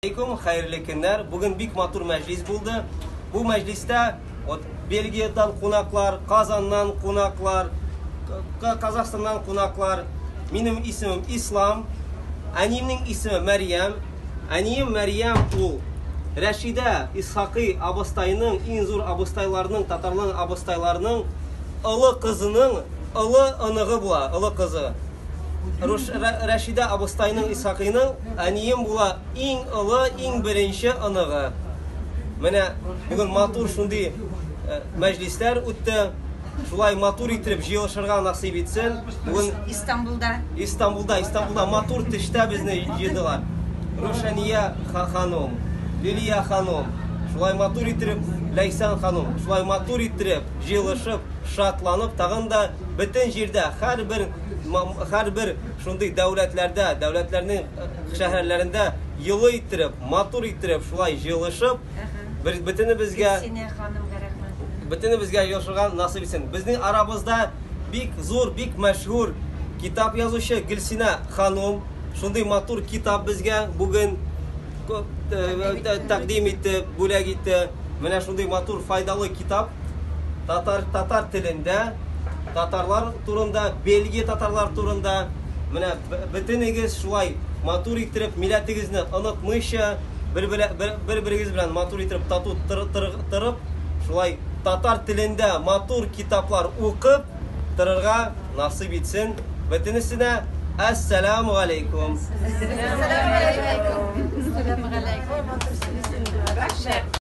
Алейкум, хәерле көннәр. Бүген бик матур мәҗлис булды. Бу мәҗлистә вот Бельгиядән кунаклар, Казаннан кунаклар, Казахстаннан кунаклар. Минем исемем Ислам. Әниемнең исеме Мәрьям. Әнием Мәрьям ул Рәшидә Исхакый абыстайның, иң зур абыстайларның, татарларның абыстайларының олы кызының олы оныгы була, олы кызы. Рәшидә абыстайның Исхакыйның әнием була иң олы, иң беренче оныгы. Менә бүген матур шундый э, мәҗлисләр үтте. Шулай матур итеп җыелышырга насыйп итсен. Бүген Истанбулда. Истанбулда, Истанбулда матур төштә безне җыйдылар. Рушания ханым, Лилия ханым, шулай матур итеп Ләйсән ханым, шулай матур итеп җыелышып шатланып, тагын да бөтен җирдә, һәрбер һәрбер шундый дәүләтләрдә, дәүләтләрнең шәһәрләрендә йолы иттереп, матур иттереп, шулай җылышып, бер бөтенебезгә бөтенебезгә җылышырга насыйп итсен. Безнең арабызда бик зур, бик мәшһүр китап язучы Гөлсинә ханым шундый матур китап безгә бүген тәкъдим итте, бүләк итте. Менә шундый матур файдалы Китап татар татар телендә, татарлар турында, Бельгия татарлары турында. Менә бөтенегез шулай матур иттереп, милләтегезне онытмыйча, бер-берегез белән матур иттереп тату торып, шулай татар телендә матур китаплар укып торырга насыйп итсен бөтенесенә. Әссәламу галәйкүм. Әссәламу галәйкүм. Әссәламу галәйкүм.